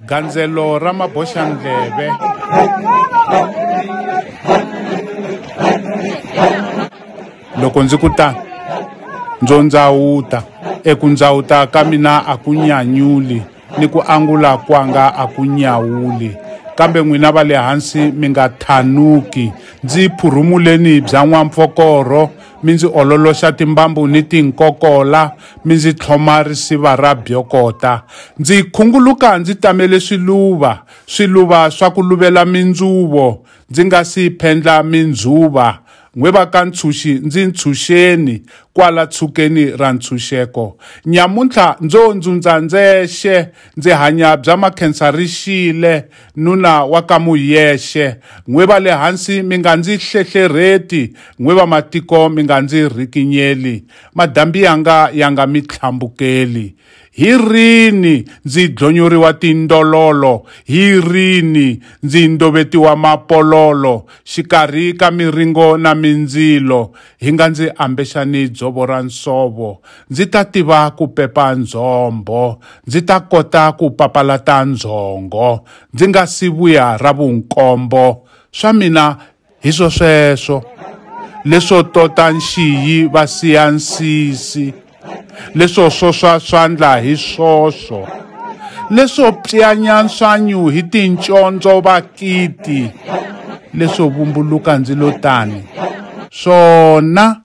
gandzelo ra maboxandleve loko ndzi ku tano ndzo ndzawuta eku ndzawuta ka mina a ku nyanyuli ni ku angula kwanga a ku nyawuli kambe n'wina va le hansi mi nga thanuki ndzi phurhumuleni bya n'wampfokorho mi ndzi ololoxa timbambu ni tinkokola mi ndzi tlhoma risiva ra byokota ndzi khunguluka ndzi tamele swiluva swiluva swa ku luvela mindzuvo ndzi nga si phendla mindzuva n'we va ka ntshunxi ndzi ntshunxeni kwala tshukeni ra ntshunxeko nyamuntlha ndzo ndzundza ndzexe ndzi hanya bya makhensa ri xile nuna wa ka Muyexe, n'we va le hansi mi nga ndzi hlehlerheti, n'we va matiko mi nga ndzi rikinyeli, madambi yanga ya nga mi tlhambukeli. Hi rini ndzi dlonyoriwa tindololo, hi rini ndzi ndovetiwa mapololo, xikarhi ka miringo na mindzilo, Hi nga ndzi ambexani dzovo ra nsovo, ndzi ta tiva ku pepa ndzhombho, ndzi ta kota ku papalata ndzhongo, ndzi nga si vuya ra vunkombo, swa mina hi swosweswo, leswo tota nxiyi va siya nsisi. leswo swoswa swandla hi swoswo leswo pyanya nswanyu hi tincondzo vakiti leswo vumbuluka ndzilo tani swona